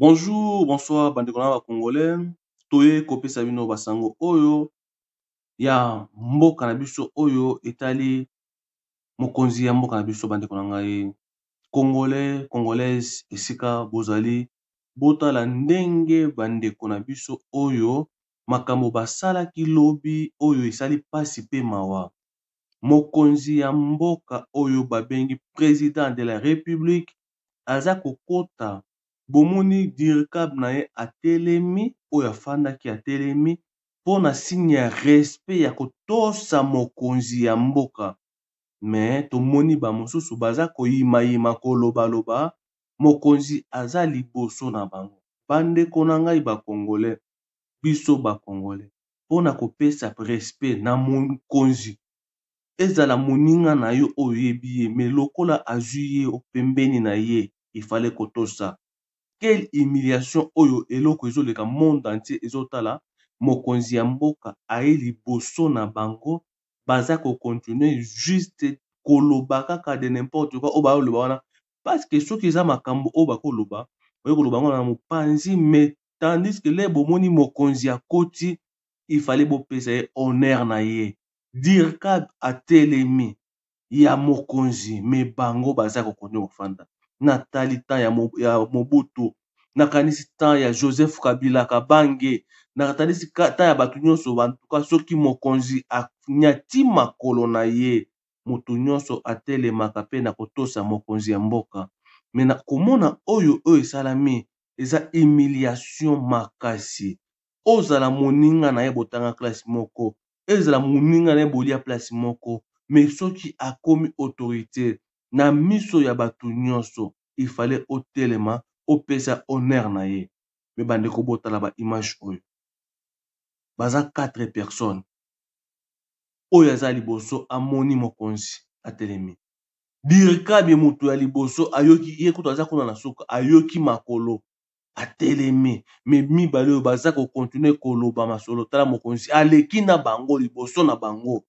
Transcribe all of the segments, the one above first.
Bonjour bonsoir bandeko na ba congolais toye kopesa bino basango oyo ya mboka na biso oyo etali mokonzi ya mboka na biso bandeko na ngai congolais congolaise esika bozali botala ndenge bandeko na biso oyo makambo basalaki lobi oyo esali mpasi mpe mawa mokonzi ya mboka oyo babengi president de la republique aza kokota bomoni dircab na ye atelemi oyo afandaki atelemi mpona signe ya respect ya kotosa mokonzi ya mboka me tomoni bamosusu baza koyimayima kolobaloba mokonzi aza liboso na bango bandeko na ngai bakongole biso bakongole mpona kopesa respect na mokonzi ezala moninga na yo oyo oyebi ye mais lokola azui ye o pembeni na ye il fallait ko tosa quelle humiliation oyo eloko ezo leka monde entier ezo tala mokonzi ya mboka aye liboso na bango baza ko continuer juste koloba kaka de n'importe quoi oyo bazo loba wana parce que soki eza makambo oyo bako loba oye koloba yango na mopanzi mais tandis que le bomoni mokonzi akoti il fallait bopesa ye honneur na ye Dircab atelemi ya mokonzi mais bango baza ko continue kofanda na tali temps ya mobutu na kanisi temps ya joseph kabila kabange na katalisi temps ya bato nyonso bantuka soki mokonzi anyati makolo na ye moto nyonso atelemaka mpe na kotosa mokonzi ya mboka mais na komona oyo oyo esalami eza humiliation makasi ozala moninga na ye botanga classe moko ezala moninga na ye bolia place moko mais soki akomi autorite na miso ya bato nyonso il fallait otelema opesa honneur na ye mais bandeko botala ba image oyo baza 4 personnes oyo aza liboso amoni mokonzi atelemi dirkabi moto ya liboso ayoki ye kutu aza kuna na suka ayoki makolo atelemi me mibale oyo baza kokontinue koloba masolo tala mokonzi aleki na bango liboso na bango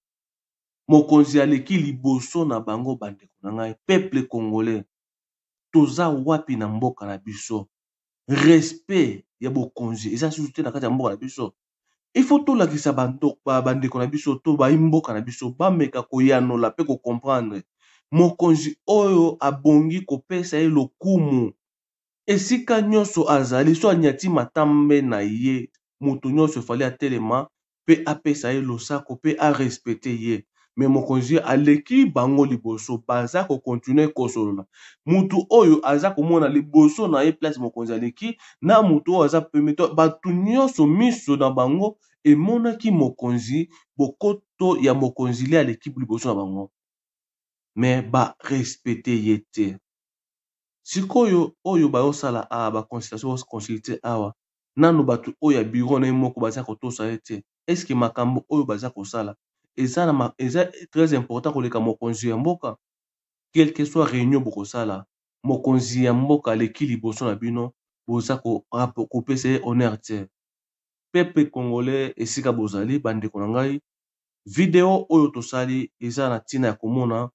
mokonzi aleki liboso na bango bandeko na ngai peuple congolais toza wapi na mboka na biso respect ya bokonzi eza susu te na kati ya mboka na biso il faut tolakisa bandeko na biso to bayi mboka na biso bameka koyanola mpe kocomprendre mokonzi oyo abongi kopesa ye lokumu esika nionso azali soki anyati matambe na ye mutu nionso il fallait atelema pe apesa ye losako pe a respecter ye mais mokonzi aleki bango liboso baza ko continuer kosolola mutu oyo aza komona liboso na ye place mokonzi aleki na mutu oyo aza pembeni donc batu nionso miso na bango emonaki mokonzi bokoto ya mokonzi nde aleki liboso na bango mais ba respecter ye te. sikoyo oyo bayosala a ah, baconsultation baconsulte awa nano bato oyo ya biro na ye moko baza kotosa ye te eske makambo oyo baza kosala eza, na, eza très important koleka mokonzi ya mboka quelque soit réunion bokosala mokonzi ya mboka aleki liboso na bino boza kopesa ye honneur te pepe congolais esika bozali bandeko na ngai video oyo tosali eza na ntina ya komona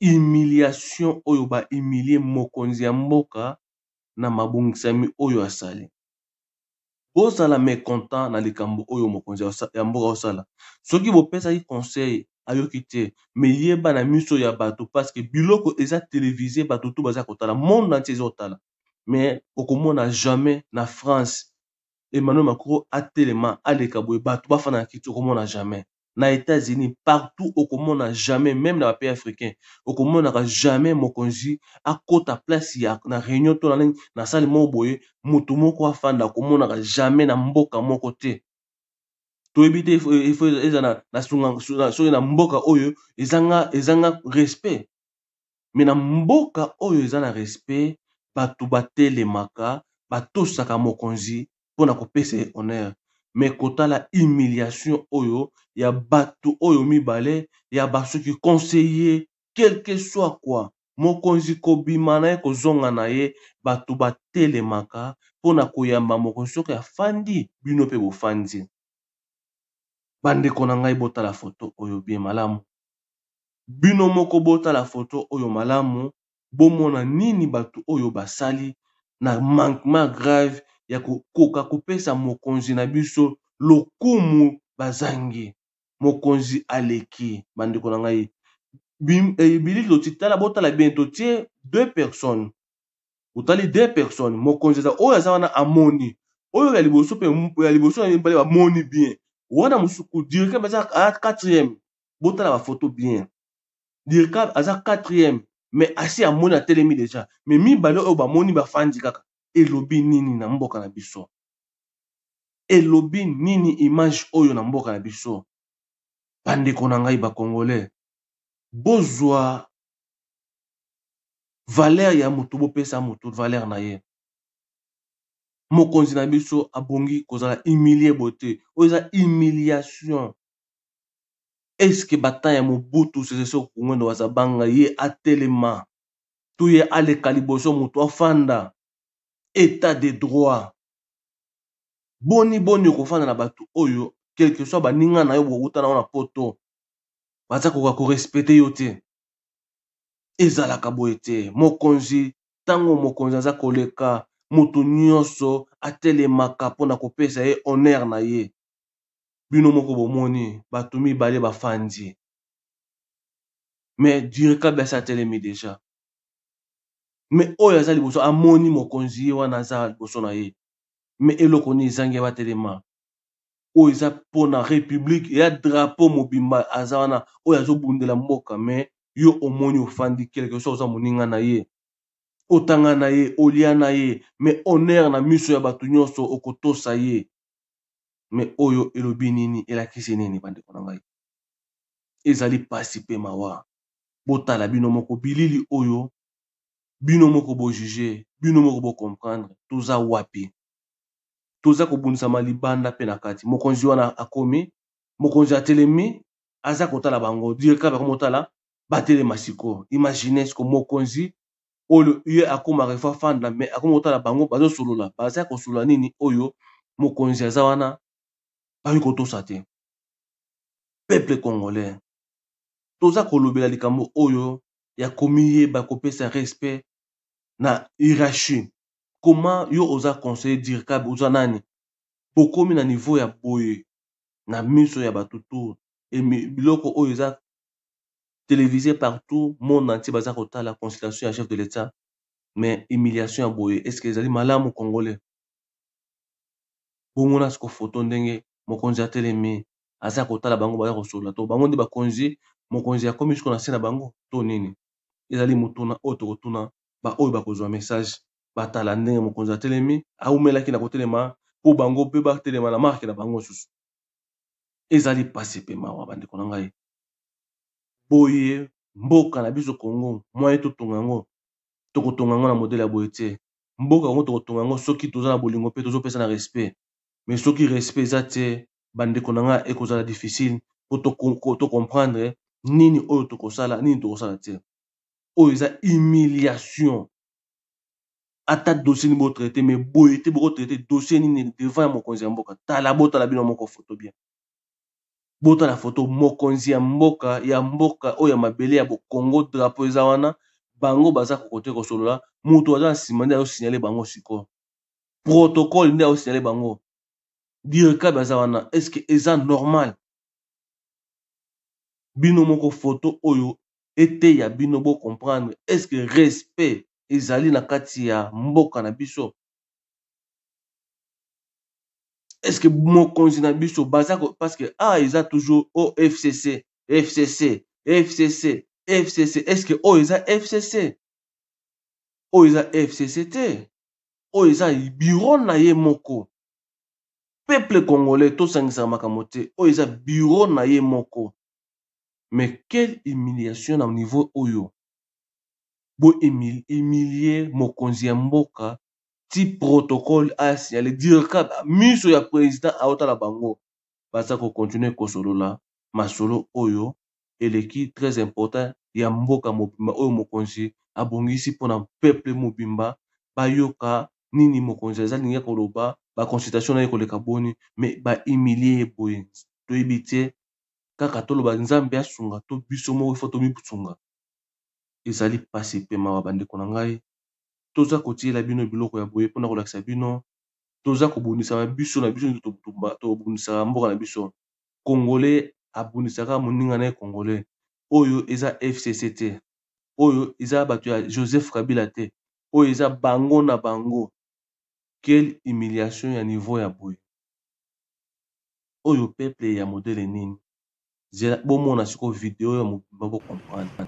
humiliation oyo ba humilier mokonzi ya mboka na mabongisami oyo asali. Bozala mecontent na likambo oyo mokonzi ya mboka azosala. Soki bopesaki conseil ayoki te mais yeba na miso ya bato parce que biloko eza televise bato tout baza kotala monde entier eza kotala mais okomona jamais na France Emmanuel Macron atelema aleka boye bato bafanda na kiti okomona jamais. na Etats-Unis partout okomona jamais même na ba pays africains okomonaka jamais mokonzi akota place ya na réunion to na nini na sali moko boye moto moko afanda okomonaka jamais na mboka moko te toyebi te eza na soki na mboka oyo ezanga ezanga respect mais na mboka oyo eza na respect batu batelemaka batosaka mokonzi pona kopesa ye honneur mais kotala humiliation oyo ya batu oyo mibale ya basuki conseiller quelque soit quoi mokonzi kobima naye kozonga naye batu batelemaka pona koyamba mokonzi soki afandi bino pe bofandi bandeko na ngai botala photo oyo bien malamu. Bino moko botala photo oyo malamu bomona nini batu oyo basali na manquement grave ya ko koka kopesa mokonzi na biso lokumu bazangi. Mokonzi aleki bandeko na ngai. Bilili toti tala botala bien totie deux personnes otali deux personnes mokonzi aza oyo aza wana amoni oyo ya liboso pe ya liboso na mibale bamoni bien wana mosusu ko directement aza quatrième botala ba photo bien dirkab aza quatrième mais asi amoni atelemi deja mais mibale oyo bamoni bafandi kaka elobi nini na mboka na biso elobi nini image oyo na mboka na biso bandeko na ngai bacongolais bozwa valeur ya motu bopesa motu valeur na ye mokonzi na biso abongi kozala humilie boye te oyo eza humiliation est ce que ba temps ya Mobutu Sese Seko Ngwendo Wazabanga ye atelema to ye aleka liboso mutu afanda etat de droit boni boni okofanda na batu oyo quelque soit baninga na yo bowuta na yo na poto baza koka korespecte yo te ezalaka boye te mokonzi ntango mokonzi aza koleka moto nyonso atelemaka mpo na kopesa ye honere na ye bino moko bomoni bato mibale bafandi me direkabiasi atelemi deja me oyo aza liboso amoni mokonzi ye wana aza liboso na ye me eloko nini ezangi batelema oyo eza mpona republike ya drapeau mobimba aza wana oyo azobundela mboka me yo omoni ofandi kelke so oza moninga na ye otanga na ye olia na ye me honere na miso ya bato nyonso okotosa ye me oyo elobi nini elakisi nini bandeko na ngai ezali mpasi mpe mawa botala bino moko bilili oyo bino moko bojuge bino moko bocomprendre toza wapi toza kobundisama libanda mpe na kati mokonzi wana akomi mokonzi atelemi aza kotala bango directeur bakomotala batelema sikoyo imagine siko mokonzi oyo ye akoma refu afanda me akoma kotala bango bazosolola baza kosolola nini oyo mokonzi aza wana bakoki kotosa te peuple congolais toza kolobela likambo oyo ya komiyeba kopesa respect na hierarchie comment yo oza conseiller dirkabe oza nani bokomi na niveau ya boye na miso ya bato tour biloko oyo eza televise partout monde entier baza kotala consultation ya chef de l'etat mais humiliation ya boye est ce que ezali malamu congolais bomona siko foto ndenge mokonzi atelemi aza kotala bango baza kosolola to bango nde bakonzi mokonzi akomi siko na se na bango to nini ezali motuna oyo tokotuna baoyo bakozwa message batala ndenge mokonzi atelemi aumelaki na kotelema mpo bango mpe batelema na marke na bango mosusu ezali pasi pe mawa ba ndeko na ngai boye mboka na biso Congo moyen to tonga yango toko tonga yango na modele ya boye te mboka yango toko tonga yango soki toza na bolingo pe tozo pesa na respect mais soki respect eza te ba ndeko na ngai eko zala difficile po to comprendre nini oyo toko sala nini toko sala te oyo eza humiliation ata dossier nini botraite mais boye te bokotraite dossier nini devant ya mokonzi ya mboka tala botala bino moko foto bien botala foto mokonzi ya mboka ya mboka oyo ya mabele ya bokongo drapo eza wana bango baza kokote kosolola moto aza na nsima nde ayosignale bango sikoyo protocole nde ayosignale bango direkabe aza wana estce eza normal bino moko foto oyo eteya bino bo comprendre est ce que respect ezali na kati ya mboka na biso est ce que mokonzi na biso baza parce que a ah, eza toujours o fcc fcc fcc fcc est ce que oyo oh, eza fcc oyo oh, eza fcc te oyo oh, eza biro na ye moko peuple congolais tosangisa makambo te oyo eza biro na ye moko mais quelle humiliation na niveau oyo bo humilier mokonzi ya mboka ti protocole a signaler dirka miso ya president aotala bango baza ko continuer kosolola masolo oyo eleki très important ya mboka mobimba oyo mokonzi abongisi mpo na peuple mobimba bayoka nini mokonzi aza lingi koloba ba consultation na ye koleka boni mais ba humilier ye boye toyebi te kaka toloba nzambe asunga to biso moko ifo tomisunga ezali mpasi mpe mawa bandeko na ngai toza kotiyela bino biloko ya boye mpona kolakisa bino toza kobundisama biso na biso tobundisaka mboka na biso kongole abundisaka moninga na ye kongole oyo eza fcc te oyo eza bato ya joseph kabila te oyo eza bango na bango Quelle humiliation ya niveau ya boye. Oyo peuple ya modele nini? Zela bomona sikoyo video oyo mobimba bo comprendre.